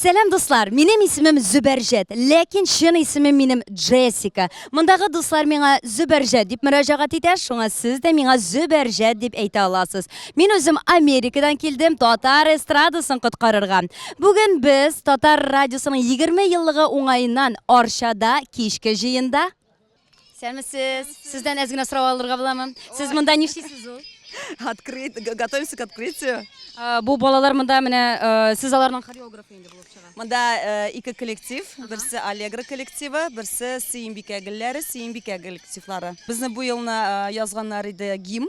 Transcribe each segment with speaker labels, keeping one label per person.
Speaker 1: Сәлам дуслар, минем исемем Зөбәрҗәт, ләкин чын исемем минем Джессика. Мондагы дуслар миңа Зөбәрҗәт дип мөрәҗәгать итә, шуңа сез дә миңа Зөбәрҗәт дип әйтә аласыз. Мин үзем Америкадан килдем татар эстрадасын коткарырга. Бүген без татар радиосының 20 еллыгы уңаеннан Арчада кичке җыенда Сәмесез. Сездән әз генә сорау алырга буламы? Сез монда нишлисез ул? Открыт,
Speaker 2: готовимся к открытию. Э, бу балалар
Speaker 1: монда менә э, сез аларның хореографы инде булып чыга. Монда э, ике
Speaker 2: коллектив, берсе Аллегра коллективы, берсе Сиимбикә гөлләре, Сиимбикә коллективлары. Безне бу елны язганнар иде гимн.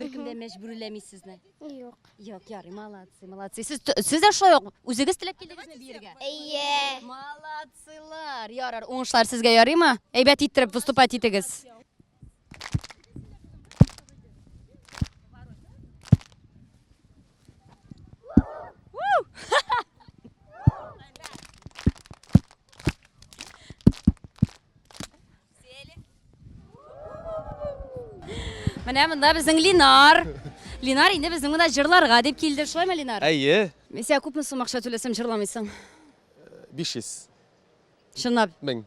Speaker 1: Беркем дә мәҗбүрләми сезне. Юк.
Speaker 3: Юк, ярый,
Speaker 1: молодцы, молодцы. Сез сез дә шулай ук үзегез теләп килдегезме биергә? Әйе.
Speaker 3: Молодцылар.
Speaker 1: Ярар, уңышлар сезгә ярыймы? Әйбәт иттереп выступать итегез. Менә монда безнең Линар. Линар инде безнең монда җырларга дип килде. Шулаймы, Линар? Әйе. Мин сиңа күпме
Speaker 4: сум акча
Speaker 1: түләсәм җырламыйсың? 500. Чынлап. 1000.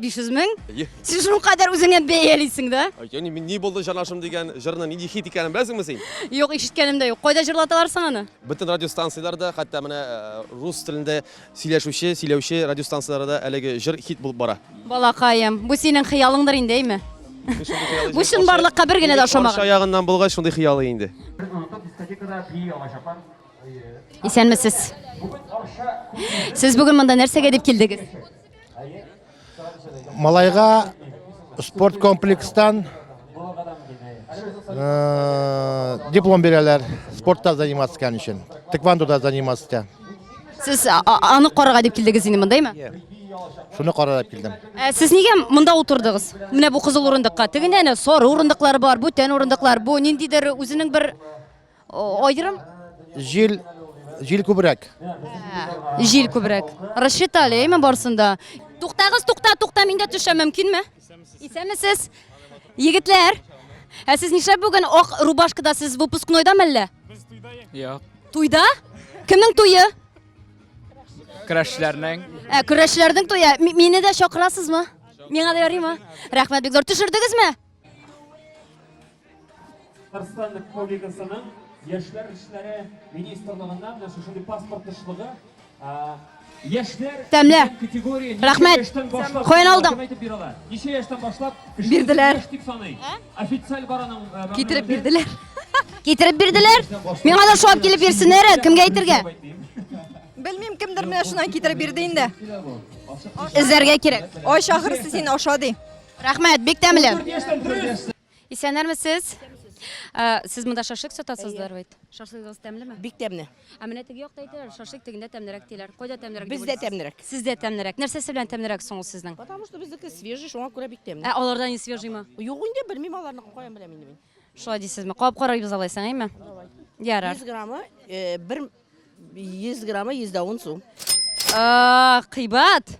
Speaker 1: 500 мең?
Speaker 4: Әйе.
Speaker 1: Син шул кадәр
Speaker 4: үзеңә
Speaker 1: бәялисең да? Яни мин ни булды
Speaker 4: җанашым дигән җырны нинди хит икәнен беләсеңме син? Юк, ишеткәнем дә юк.
Speaker 1: Кайда җырлаталар соң аны? Бөтен радиостанцияләрдә,
Speaker 4: хәтта менә э, рус телендә Сөйләшүче, сөйләүче радиостанцияләрдә әлеге җыр хит булып бара. Балакаем, бу
Speaker 1: синең хыялыңдыр инде, әйме? Бу чынбарлыкка бер генә дә ошамаган. Каршы аягыннан булгач,
Speaker 4: шундый
Speaker 1: хыялы
Speaker 4: инде.
Speaker 1: Исәнмесез. Сез бүген монда нәрсәгә дип килдегез?
Speaker 5: Малайга спорт комплекстан э, диплом бирәләр. Спортта заниматься икән өчен. Тэквондода заниматься итә. Сез
Speaker 1: а- а- аны карарга дип килдегез инде мондаймы? Шуны карарап
Speaker 5: килдем. Ә сез нигә монда
Speaker 1: утырдыгыз? Менә бу кызыл урындыкка. Тегендә әнә сары урындыклар бар, бүтән урындыклар. Бу ниндидер үзенең бер Аерым? Җил,
Speaker 5: җил күбрәк.
Speaker 1: Җил күбрәк. Рассчитали, әйме барсында. Туктагыз, тукта, тукта, миндә төшә мөмкинме? Исәмесез? Егетләр, ә сез нишләп бүген ак рубашкада сез выпускнойда мәллә? Без туйда. Я.
Speaker 6: Туйда?
Speaker 1: Кемнең туйы? Крәшләрнең.
Speaker 6: Ә, көрәшләрнең туйы.
Speaker 1: Мине дә чакырасызмы? Миңа да ярыймы? Рәхмәт, бик зур. Төшердегезме?
Speaker 7: Татарстан Республикасының Яшьләр эшләре министрлыгыннан менә шушындый паспорт тышлыгы Яшьләр тәмле
Speaker 1: категория рәхмәт каян алдың ничә яшьтән
Speaker 7: башлап бирделәр дип
Speaker 1: саный
Speaker 7: официаль бараның китереп бирделәр
Speaker 1: китереп бирделәр миңа да шулап килеп бирсеннәр кемгә әйтергә
Speaker 8: белмим кемдер менә шуннан китереп бирде инде
Speaker 1: эзләргә кирәк ай шахырсы син
Speaker 8: аша ди Рәхмәт, бик тәмле.
Speaker 1: Исәннәрмесез? Ә, Сез монда шашлык сатасыздар бит. Шашлыгыгыз тәмлеме? Бик тәмле. Ә
Speaker 8: менә теге якта әйтәләр,
Speaker 1: шашлык тегендә тәмлерәк диләр. Кайда тәмлерәк? дип Бездә уйлыйсыз? тәмлерәк. Сездә
Speaker 8: тәмлерәк. Нәрсәсе
Speaker 1: белән тәмлерәк соң ул сезнең? Потому что безнеке свежий,
Speaker 8: шуңа күрә бик тәмле. Ә аларда не свежиймы?
Speaker 1: Юк инде, белмим аларны,
Speaker 8: каян беләм инде мин. Шулай дисезме? Кабап
Speaker 1: карарбыз алайсаң, әйме? Ярар. 100 граммы э,
Speaker 8: бер 100 граммы 100 дә 10 сум. А, кыйбат.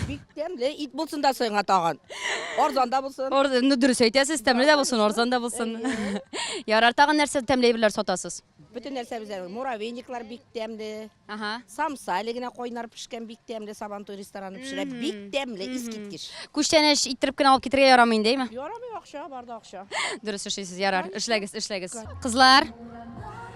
Speaker 1: Бик тәмле
Speaker 8: ит булсын да соңга тагын. Арзан да булсын. Арзан, ну дөрес әйтәсез,
Speaker 1: тәмле дә булсын, арзан да булсын. Ярар, тагын нәрсә тәмле әйберләр сатасыз? Бөтен нәрсә бездә
Speaker 8: муравейниклар бик тәмле. Ага. Самса
Speaker 1: әле генә
Speaker 8: кайнар пешкән бик тәмле Сабантуй рестораны пешерә. Бик тәмле, искиткеч. Күчтәнәч иттереп
Speaker 1: кенә алып китергә ярамый инде, әйме? Ярамый акча, барда
Speaker 8: акча. Дөрес эшлисез, ярар.
Speaker 1: Эшләгез, эшләгез. Кызлар,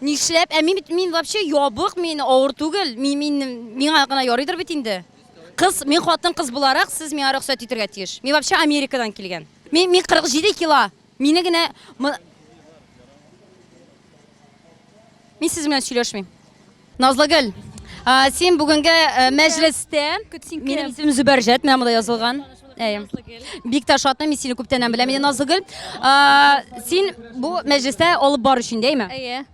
Speaker 1: Нишләп? Ә мин бит мин вообще ябык, мин авыр түгел. Мин мин миңа гына ярыйдыр бит инде. Кыз, мин хатын кыз буларак, сез миңа рөхсәт итергә тиеш. Мин вообще Америкадан килгән. Мин мин 47 кило. Мине генә Мин сез белән сөйләшмим. Назлыгөл, син бүгенге мәҗлестә, минем исемем Зөбәрҗәт, менә монда язылган. Әй. Бик тә шатны мин сине күптәннән беләм, Мине Назлыгөл. Син бу мәҗлестә алып бар өчен, дәйме? Әйе.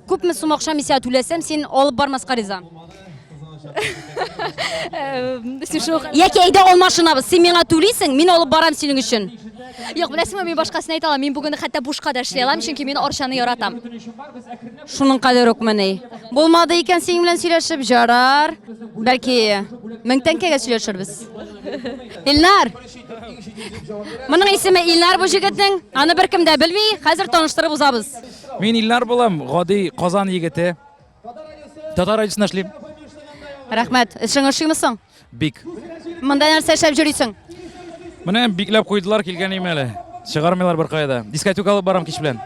Speaker 1: Күпме сум акча мисә түләсәм, син алып бармаска риза? Яки әйдә алмашынабыз, син миңа түлисең, мин алып барам синең өчен. Юк, беләсеңме,
Speaker 3: мин башкасын әйтә алам. Мин бүген хәтта бушка да эшли алам, чөнки мин Арчаны яратам. Шуның
Speaker 1: кадәр үк мени. Булмады икән синең белән сөйләшеп, җарар. Бәлки 1000 тәңкәгә сөйләшербез. Илнар. Моның исеме Илнар бу җегетнең. Аны беркем дә белми. Хәзер таныштырып узабыз. Мин Илнар
Speaker 6: булам, гади Казан егете. Татар радиосына эшлим. Рәхмәт.
Speaker 1: Эшең ошыймы соң? Бик.
Speaker 6: Монда нәрсә
Speaker 1: эшләп йөрисең? Менә
Speaker 6: бикләп куйдылар килгән име әле. Чыгармыйлар беркая да. Дискотека алып барам кич белән.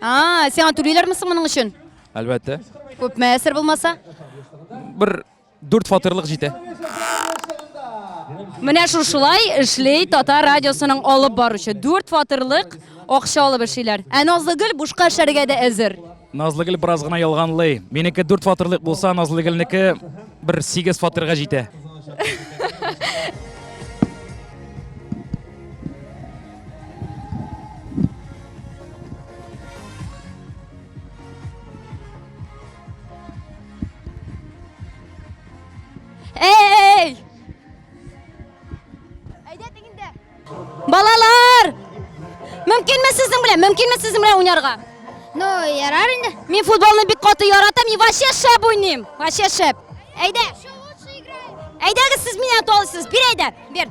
Speaker 6: А, сиңа
Speaker 1: түлиләрме соң моның өчен? Әлбәттә.
Speaker 6: Күпме әсер
Speaker 1: булмаса? Бер
Speaker 6: Дүрт фатирлык җитә.
Speaker 1: Менә шушылай эшли Татар радиосының алып баручы. Дүрт фатирлык акча алып эшлиләр. Ә Назлыгөл бушка эшләргә дә әзер. Назлыгөл бераз гына
Speaker 6: ялганлый. Минеке дүрт фатирлык булса, Назлыгөлнеке бер сигез фатирга җитә.
Speaker 1: Әй! Әйдәтең инде. Балалар! Мөмкинме сезнең белән? Мөмкинме сезнең белән уйнарга? Ну,
Speaker 3: ярар инде. Мин футболны бик каты
Speaker 1: яратам и вообще шәп уйныйм. Вообще шәп. Әйдә. Әйдәгез сез мине аталысыз. Бир әйдә. Бир.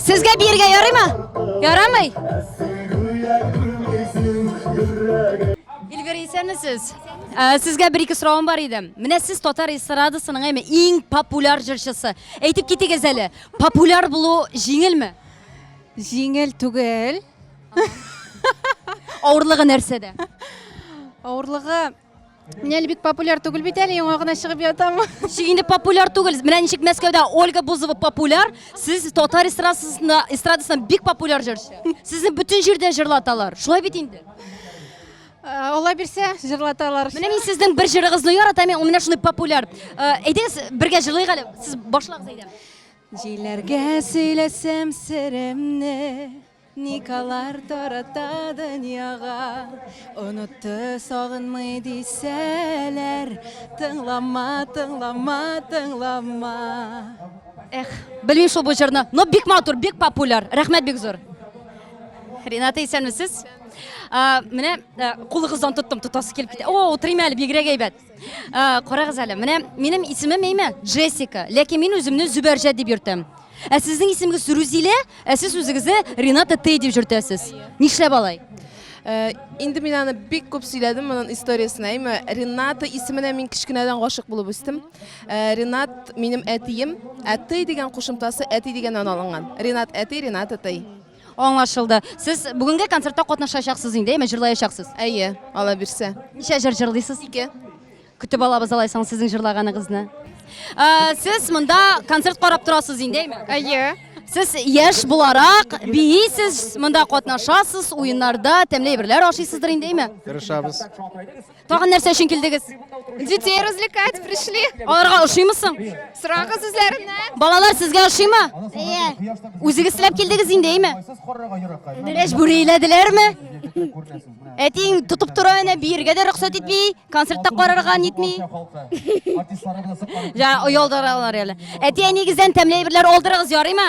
Speaker 1: Сезгә биергә ярыймы? Ярамый? Эльвира, исәнмесез? Ә, Сезгә бер ике соравым бар иде. Менә сез татар эстрадасының әйме иң популяр җырчысы. Әйтеп китегез әле, популяр булу җиңелме? Җиңел
Speaker 9: түгел.
Speaker 1: Авырлыгы нәрсәдә?
Speaker 9: Авырлыгы Менә әле бик популяр түгел бит әле, яңа гына чыгып ятам. Ничек инде популяр
Speaker 1: түгел? Менә ничек Мәскәүдә Ольга Бузова популяр, сез татар эстрадасында эстрадасында бик популяр җырчы. Сезне бөтен җирдә җырлаталар. Шулай бит инде. Э,
Speaker 9: Алла бирсә, җырлаталар. Менә мин сезнең бер
Speaker 1: җырыгызны яратам, ул менә шундый популяр. Э, әйдәгез, бергә җырлыйк әле. Сез башлагыз әйдә. Җиләргә
Speaker 9: сөйләсәм серемне, Никалар тарата дөньяга, Онытты, сагынмый дисәләр, Тыңлама, тыңлама, тыңлама. Эх,
Speaker 1: белмим шул бу җырны. Но бик матур, бик популяр. Рәхмәт бик зур. Рената, исәнмесез? Ә, Менә ә, кулыгыздан тоттым, тотасы килеп китә. О, утырыйм әле, бигрәк әйбәт. Ә, карагыз әле, менә минем исемем әйме? Джессика. Ләкин мин үземне Зөбәрҗәт дип йөртәм. Ә сезнең исемегез Рузилә, ә сез үзегезне Рената Тей дип йөртәсез. Нишләп алай? Э, инде
Speaker 9: мин аны бик күп сөйләдем моның историясен әйме рената исеменә мин кечкенәдән гашык булып үстем э, ренат минем әтием әтей дигән кушымтасы әти дигәннән алынган ренат әти ренат әтей Аңлашылды.
Speaker 1: Сез бүгенге концертта катнашачаксыз инде, әйме, җырлаячаксыз? Әйе, ала
Speaker 9: бирсә. Ничә җыр җырлыйсыз?
Speaker 1: Ике. Көтеп алабыз алайсаң сезнең җырлаганыгызны. Ә, Сез монда
Speaker 9: концерт
Speaker 1: карап торасыз инде, әйме? Әйе. Сез яшь буларак биисез, монда катнашасыз, уеннарда тәмле әйберләр ашыйсыздыр инде, әйме? Тырышабыз.
Speaker 5: Тагын
Speaker 1: нәрсә өчен килдегез? Детей
Speaker 9: развлекать пришли. Аларга ошыймы соң?
Speaker 1: Сорагыз
Speaker 9: үзләреннән. Балалар сезгә ошыймы?
Speaker 1: Әйе. Үзегез теләп килдегез инде, әйме? Мәҗбүри әйләделәрме? Әтиң тотып тора әнә биергә дә рөхсәт итми, концертта карарга нитми. Җа, оялдыралар әле. Әти әнигездән тәмле әйберләр алдырыгыз, ярыймы?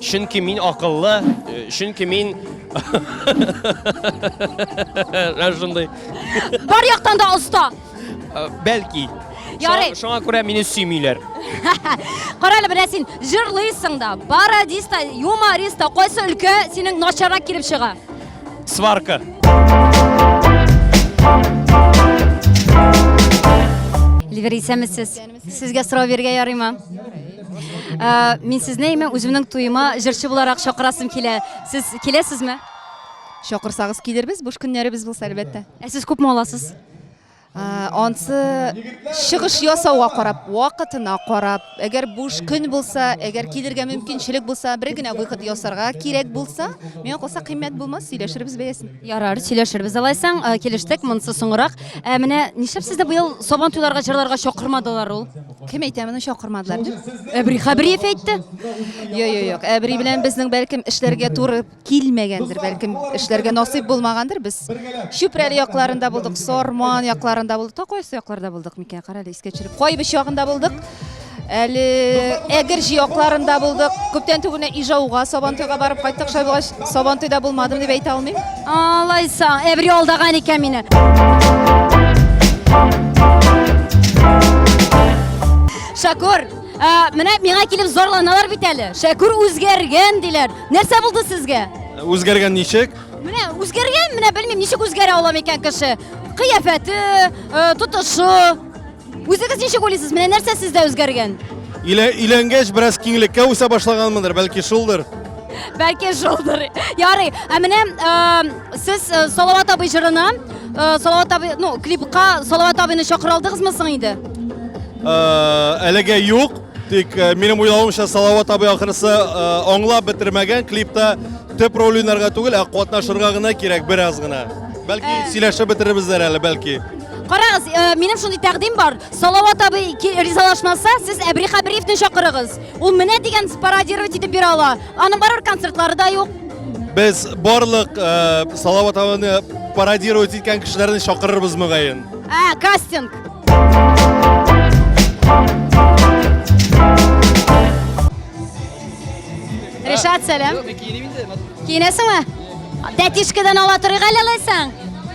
Speaker 4: Чөнки мин акыллы, э, чөнки мин Менә шундый. Бар
Speaker 1: яктан да оста. Э, Бәлки.
Speaker 4: Ярый. Шуңа-
Speaker 1: Шуңа күрә мине
Speaker 4: сөймиләр. Кара
Speaker 1: әле менә син җырлыйсың да, пародист та, юморист та, кайсы өлкә синең начаррак килеп чыга? Сварка. Ливер исәмесез. Сезгә сорау бирергә ярыймы? Э, мин сезне имә үземнең туема җырчы буларак чакырасым килә. Сез киләсезме? Чакырсагыз
Speaker 9: килербез, буш көннәребез булса әлбәттә. Ә сез күпме аласыз?
Speaker 1: Э,
Speaker 9: ансы чыгыш ясауга карап, вакытына карап, әгәр буш көн булса, әгәр килергә мөмкинчелек булса, бер генә выход ясарга кирәк булса, миңа калса кыйммәт булмас, сөйләшербез бәясен. Ярар, сөйләшербез
Speaker 1: алайсаң, э, килештек, монысы соңрак. Ә менә нишләп сезне быел Сабан туйларга җырларга чакырмадылар ул? Кем әйтә моны
Speaker 9: чакырмадылар дип? Әбри Хабриев әйтте.
Speaker 1: Йо, йо, юк.
Speaker 9: Әбри белән безнең бәлкем эшләргә туры килмәгәндер, бәлкем эшләргә насыйп булмагандыр. Без Чүпрәле якларында булдык, Сарман якларында булдык. Та кайсы якларда булдык микән? Карале, искә төшереп. Кайбыч ягында булдык. Әле Әгерҗе якларында булдык. Күптән түгел Ижауга, Сабантуйга барып кайттык. Шулай булгач, Сабантуйда булмадым дип әйтә алмыйм. Алайса,
Speaker 1: әбри алдаган икән мине. Шакур, менә миңа килеп зарланалар бит әле. Шакур үзгәргән диләр. Нәрсә булды сезгә? Үзгәргән ничек?
Speaker 4: Менә үзгәргән,
Speaker 1: менә белмим, ничек үзгәрә ала микән кеше. Кыяфәте, тотышы, Үзегез ничек уйлыйсыз, менә нәрсә сездә үзгәргән? Илә, иләнгәч
Speaker 4: бераз киңлеккә үсә башлаганмындыр, бәлки шулдыр. Бәлки
Speaker 1: шулдыр. Ярый. Ә менә э, сез э, Салават абый җырына, э, Салават абый, ну, клипка Салават абыйны чакыра алдыгызмы соң инде? Э,
Speaker 4: әлегә юк, тик э, минем уйлавымча Салават абый ахрысы э, аңлап бетермәгән клипта төп роль уйнарга түгел, ә катнашырга гына кирәк бераз гына. Бәлки Э. сөйләшеп бетерербездер әле, бәлки. Карагыз, э,
Speaker 1: минем шундый тәкъдим бар. Салават абый ризалашмаса, сез Әбри Хабриевны чакырыгыз. Ул менә дигән пародировать итеп бирә ала. Аның барыр концертлары да юк. Без
Speaker 4: барлык э, Салават абыны пародировать иткән кешеләрне чакырырбыз мөгаен. Ә, кастинг.
Speaker 1: Ришат, сәлам. Киенәсеңме? Тәтишкәдән ала торыйк әле алайсаң.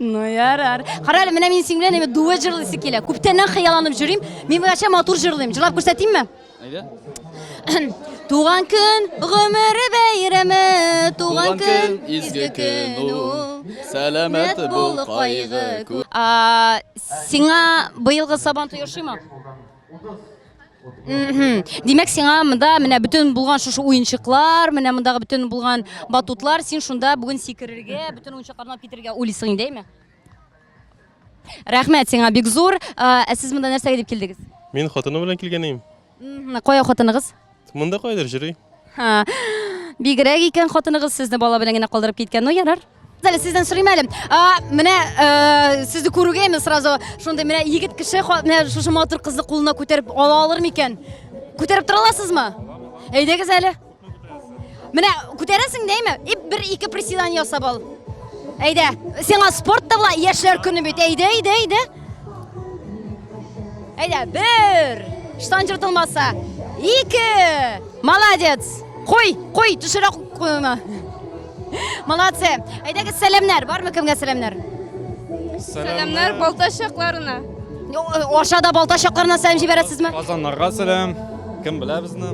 Speaker 1: Ну ярар. Кара әле, менә мин синең белән әйбәт дуэт җырлыйсы килә. Күптәннән хыялланып җөрим. Мин бергәчә матур җырлыйм. Җырлап күрсәтимме? Әйдә. Туган көн гомере бәйрәме, туган көн изге көн
Speaker 10: ул. Сәламәт бул кайгы кү. А,
Speaker 1: сиңа быелгы Сабан туе ошыймы? Димәк, сиңа монда менә бөтен булган шушы уенчыклар, менә мондагы бөтен булган батутлар, син шунда бүген сикерергә, бөтен уенчыкларны алып китергә уйлыйсың инде, әйме? Рәхмәт сиңа бик зур. Ә сез монда нәрсәгә дип килдегез? Мин хатыным белән килгән
Speaker 4: идем. Кая
Speaker 1: хатыныгыз? Монда кайдыр җыри.
Speaker 4: Ха.
Speaker 1: Бигрәк икән хатыныгыз сезне бала белән генә калдырып киткән. Ну ярар. Әле сездән сорыйм әле. А, менә э, сезне күрүгә инде сразу шундый менә егет кеше ха- менә шушы матур кызны кулына күтәреп ала алыр микән? Күтәреп тора аласызмы? Әйдәгез әле. Менә күтәрәсең дәйме? И бер ике приседание ясап ал. Әйдә, сиңа спорт та була, яшьләр көне бит. Әйдә, әйдә, әйдә. Әйдә, бер. Штан җыртылмаса. Ике. Молодец. Кой, кой, төшерә куйма. Молодцы. Әйдәгез, сәламнәр. Бармы кемгә сәламнәр?
Speaker 9: Сәламнәр Балтач якларына. Аша
Speaker 1: да Балтач якларына сәлам җибәрәсезме? Казаннарга сәлам.
Speaker 6: Кем белә безне?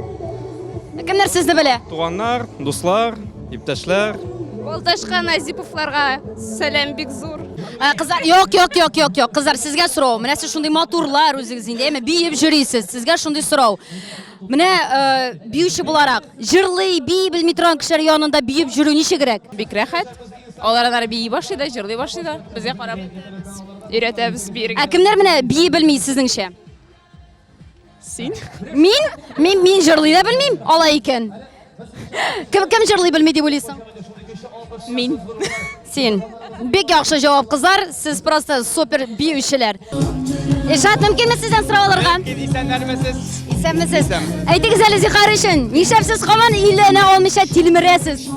Speaker 6: Кемнәр
Speaker 1: сезне белә? Туганнар, дуслар,
Speaker 6: иптәшләр. Балташка
Speaker 9: Назиповларга сәлам бик зур. Ә, Кызлар, юк,
Speaker 1: юк, юк, юк, юк. Кызлар, сезгә сорау. Менә сез шундый матурлар үзегез инде, әмма биеп җөрисез. Сезгә шундый сорау. Менә э, биюче буларак, җырлый, бии белми торган кешеләр янында биеп җөрү ничегрәк? Бик рәхәт.
Speaker 9: Алар анары бии башлый да, җырлый башлый да. Безгә карап өйрәтәбез, биергә. Ә кемнәр менә бии
Speaker 1: белми сезнеңчә?
Speaker 9: Син? Мин?
Speaker 1: Мин мин җырлый да белмим, ала икән. Кем кем җырлый белми дип уйлыйсың? Мин.
Speaker 9: Син.
Speaker 1: Бик яхшы җавап, кызлар. Сез просто супер биючеләр. Ишат, мөмкинме сездән сорау алырга? Исәннәрмесез. Исәнмесез. Әйтегез әле зихар өчен, нишләп сез һаман илленә алмыйча тилмерәсез?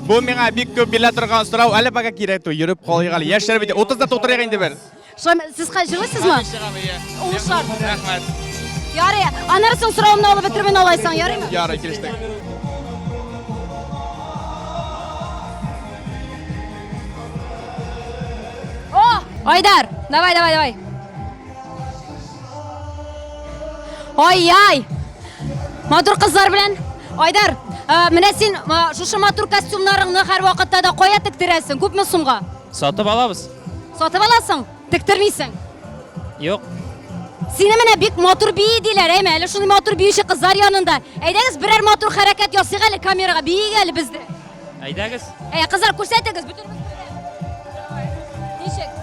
Speaker 10: Бу миңа бик күп бирелә торган сорау. Әле пока кирәк түгел, йөреп калыйк әле. Яшьләр бит 30 да тутырыйк инде бер. Шулаймы? Сез ка-
Speaker 1: җырлыйсызмы? Хәзер чыгам, иә. Ул шарт. Рәхмәт.
Speaker 10: Ярый.
Speaker 1: Аннары соң соравымны алып бетермен алайсың, ярыймы? Ярый, килештек. О! Айдар, давай, давай, давай. Ай-яй! Матур кызлар белән. Айдар, ә, менә син ә, шушы матур костюмнарыңны һәрвакытта да кая тектерәсең? Күпме сумга? Сатып алабыз.
Speaker 6: Сатып аласың,
Speaker 1: тектермисең. Юк.
Speaker 6: Сине
Speaker 1: менә бик матур бии диләр, әйме, әле шундый матур биюче кызлар янында. Әйдәгез берәр матур хәрәкәт ясыйк әле камерага, биик әле бездә. Әйдәгез.
Speaker 6: Әй, кызлар
Speaker 1: күрсәтегез, бөтен Ничек?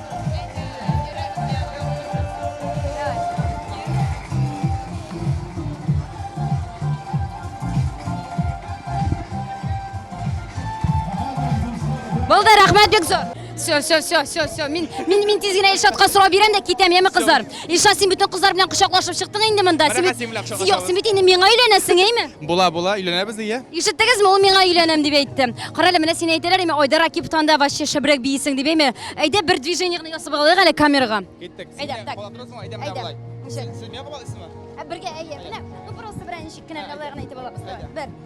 Speaker 1: Булды, рәхмәт бик зур. Все, все, все, все, все. Мин мин мин тиз генә Илшатка сорап бирәм дә китәм, яме кызлар. Илшат, син бүтән кызлар белән кочаклашып чыктың инде монда. Син бит Юк, син бит инде миңа өйләнәсең, әйме? Була, була, өйләнәбез
Speaker 10: дигә. Ишеттегезме, ул миңа
Speaker 1: өйләнәм дип әйтте. Карале, менә син әйтәләр, әйме, Айдар Акип танда вообще шәбрәк бийсең дип әйме. Әйдә бер движение гына ясап алыйк әле камерага. Киттек. Әйдә, так. Була
Speaker 10: торасыңмы?
Speaker 1: Әйдә, менә
Speaker 10: булай. Син миңа кабалыйсыңмы? Ә бергә әйе. Менә,
Speaker 1: ну просто берән ничек кенә алайгын әйтеп алабыз. Бер.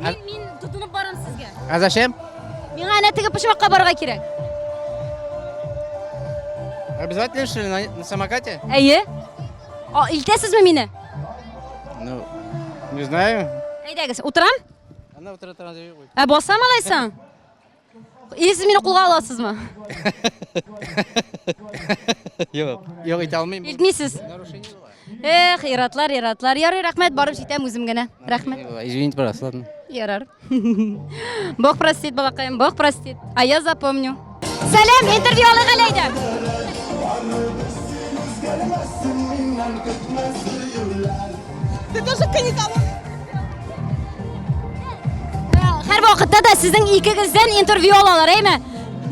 Speaker 1: Мин, мин тотынып барам сезгә. А зачем?
Speaker 11: Миңа әнә теге
Speaker 1: почмакка барырга кирәк.
Speaker 11: Обязательно, что ли, на, на самокате? Әйе.
Speaker 1: А, илтәсезме мине? Ну,
Speaker 11: не знаю. Әйдәгез, утырам?
Speaker 1: Она вот это
Speaker 11: надо- Ә басам алайсаң?
Speaker 1: Ие, сез мине кулга аласызмы?
Speaker 11: Юк, юк итә алмыйм. Илтмисез. Эх, иратлар, иратлар.
Speaker 1: Ярый, рәхмәт, барып җитәм үзем генә. Рәхмәт. Извините, пожалуйста, ладно.
Speaker 11: Ярар.
Speaker 1: Бог простит, балакаем, Бог простит. А я запомню. Сәлам, интервью алыйк әле әйдә. Син үзгәрмәссең, миннән көтмәс Ты тоже каникал. Һәр вакытта да сезнең икегездән интервью алалар, әйме?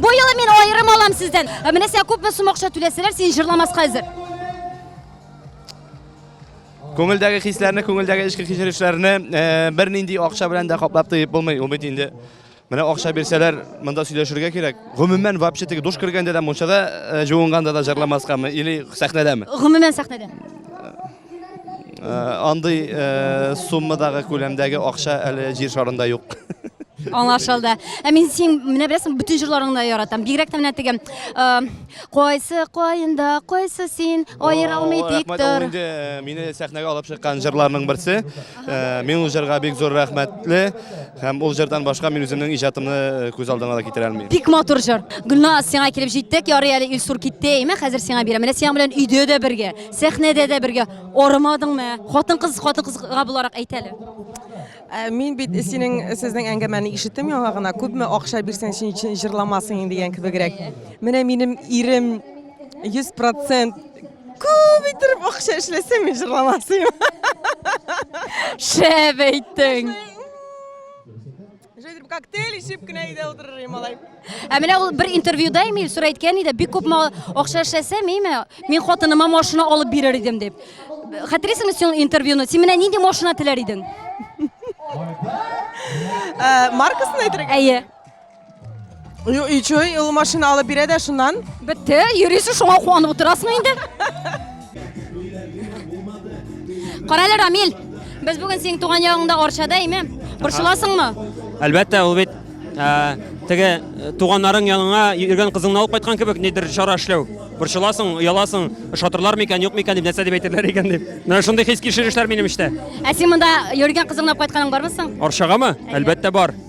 Speaker 1: Бу елы мин аерым алам сездән. Ә менә сиңа күпме сум акча түләсәләр, син җырламаска әзер.
Speaker 10: Күңелдәге хисләрне, күңелдәге эчке кичерешләрне э, бернинди акча белән дә каплап тоеп булмый, ул бит инде Менә акча бирсәләр, монда сөйләшергә кирәк. Гомумән, вообще теге душ кергәндә дә, мунчада э, җуынганда да җырламаскамы или сәхнәдәме? Гомумән сәхнәдә. Э, андый э, суммадагы күләмдәге акча әле җир шарында юк. Аңлашылды.
Speaker 1: Ә мин син менә беләсең, бөтен җырларыңны да яратам. Бигрәк тә менә теге э, кайсы каенда, кайсы син, аера алмый тик Рәхмәт, ул тор. инде э, мине
Speaker 10: сәхнәгә алып чыккан җырларның берсе. Э, мин ул җырга бик зур рәхмәтле һәм ул җырдан башка мин үземнең иҗатымны э, күз алдына да китерә алмыйм бик матур җыр
Speaker 1: гөлназ сиңа килеп җиттек ярый әле илсур китте әйме хәзер сиңа бирәм менә синең белән өйдә дә бергә сәхнәдә дә бергә арымадыңмы хатын кыз хатын кызга буларак әйт әле Ә, мин
Speaker 2: бит синең сезнең әңгәмәне ишеттем яңа гына күпме акча бирсәң син өчен җырламасын дигән кебегрәк менә минем ирем 100% Күп иттереп акча эшләсәң, мин җырламасыйм.
Speaker 1: Шәп
Speaker 2: әйттең.
Speaker 1: Җәйдер
Speaker 9: коктейль ичеп кенә өйдә утырыр идем алай. Ә менә ул бер
Speaker 1: интервьюда Эмиль Сур әйткән иде, бик күп акча эшләсәм, име, мин хатыныма машина алып бирер идем дип. Хәтерисеңме син интервьюны? Син менә нинди машина теләр идең?
Speaker 9: Э, маркасын әйтергә? Әйе.
Speaker 1: Ю- И чё, и
Speaker 9: ул машина алып бирә дә шуннан? Бетте, йөрисең,
Speaker 1: шуңа куанып утырасың инде. Кара әле, Рамил, без бүген синең туган ягыңда Арчада, әйме? Борчыласыңмы? Әлбәттә,
Speaker 7: ул бит ә, теге э, туганнарың яныңа йөргән кызыңны алып кайткан кебек нидер чара эшләү. Борчыласың, ояласың, ошатырлар микән, юк микән дип, нәрсә дип әйтерләр икән дип. Менә шундый хис кичерешләр минем эчтә. Ә син монда
Speaker 1: йөргән кызыңны алып кайтканың бармы соң? Арчагамы? Әлбәттә
Speaker 7: бар.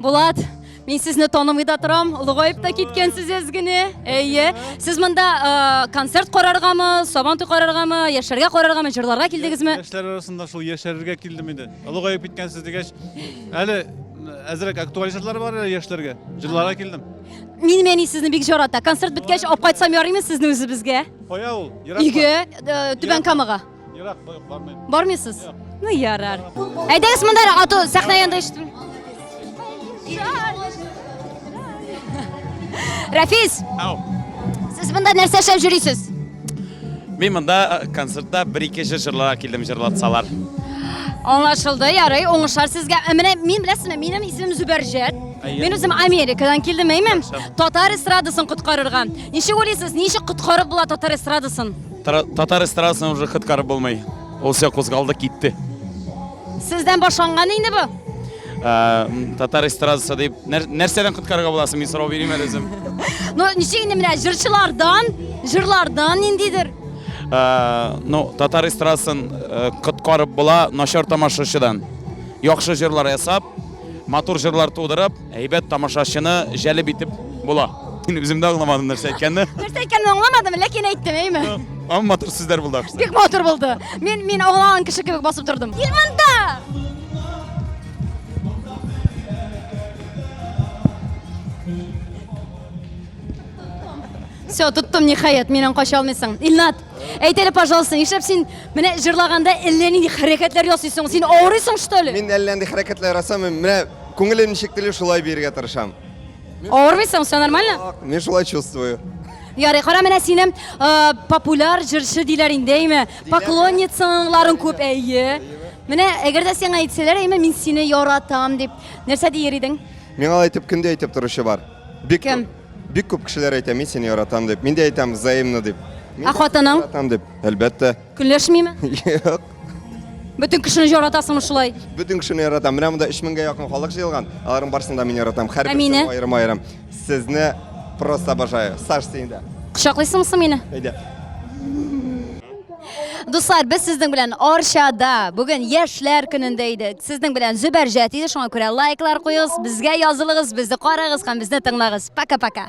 Speaker 7: Булат,
Speaker 1: Мин сезне танымый да торам, олыгаеп та киткәнсез әзгене. Әйе. Сез монда э, концерт караргамы, сабан туй караргамы, яшәргә караргамы, җырларга килдегезме? Яшьләр арасында шул
Speaker 4: яшәрергә килдем инде. Олыгаеп киткәнсез дигәч, әле әзрәк актуаль җырлар бар әле яшьләргә. Җырларга килдем. Мин мәни
Speaker 1: сезне бик жарата. Концерт беткәч, алып кайтсам ярыймы сезне үзебезгә? Кая ул? Ерак
Speaker 4: Өйгә, э,
Speaker 1: Түбән Камага. Ерак бармыйм.
Speaker 4: Бармыйсыз?
Speaker 1: Ну, ярар. Әйдәгез монда ату сәхнә янында ишетим. Рафис! Ау. Сез монда нәрсә эшләп йөрисез? Мин
Speaker 10: монда э, концертта бер-ике җыр җырларга килдем җырлатсалар.
Speaker 1: Аңлашылды, ярый, уңышлар сезгә. Ә менә мин беләсезме, минем исемем Зөбәрҗәт. Мин үзем Америкадан килдем, әйме? Татар эстрадасын коткарырга. Ничек уйлыйсыз, ничек коткарып була татар эстрадасын? Татар
Speaker 10: эстрадасына уже хыткарып булмый. Ул все кузгалды, китте. Сездән
Speaker 1: башланган инде бу?
Speaker 10: Татар эстрадасы дип нәрсәдән коткарырга буласың? Мин сорау бирим әле үзем. Ну, ничек инде
Speaker 1: менә җырчылардан, җырлардан ниндидер?
Speaker 10: Ну, татар эстрадасын коткарып була начар тамашачыдан. Яхшы җырлар ясап, матур җырлар тудырып, Әйбәт тамашачыны җәлеп итеп була. Мин үзем дә аңламадым нәрсә әйткәнне. Нәрсә әйткәнне аңламадым,
Speaker 1: ләкин әйттем, әйме? Ам матур сүзләр
Speaker 10: булды ахрысы. Бик матур булды.
Speaker 1: Мин мин аңлаган кеше кебек басып тордым. Кил монда! Все, тоттым ниһаять, миннән кача алмыйсың. Илнат, әйт әле, пожалуйста, нишләп син менә җырлаганда әллә нинди хәрәкәтләр ясыйсың? Син авырыйсың, что ли? Мин әллә нинди хәрәкәтләр
Speaker 12: ясамыйм. Менә Күңелем ничек тели шулай биергә тырышам. Авырмыйсың,
Speaker 1: все нормально? Ак, Мин шулай чувствую.
Speaker 12: Ярый, кара менә
Speaker 1: сине э, популяр җырчы диләр инде, әйме? Поклонницаларын күп, әйе. Менә әгәр дә сиңа әйтсәләр, әйме, мин сине яратам дип, нәрсә дияр идең? Миңа алай итеп кем дә
Speaker 12: әйтеп торучы бар. Бик Кем? күп.
Speaker 1: Бик күп кешеләр
Speaker 12: әйтә, мин сине яратам дип. Мин дә әйтәм, взаимно дип. Мин Ә дә сине хатының?
Speaker 1: Яратам дип. Әлбәттә.
Speaker 12: Көнләшмиме? Юк. Бөтен
Speaker 1: кешене яратасыңмы шулай? Бөтен кешене яратам. Менә
Speaker 12: монда 3000 меңгә якын халык җыелган. Аларның барысын да мин яратам. Һәр берсе аерым-аерым. Сезне просто обожаю. Саш, син дә. Кочаклыйсыңмы соң мине?
Speaker 1: Әйдә. Дуслар, без сезнең белән Арчада бүген яшьләр көнендә идек. Сезнең белән Зөбәрҗәт иде, шуңа күрә лайклар куегыз, безгә язылыгыз, безне карагыз һәм безне тыңлагыз. Пока-пока.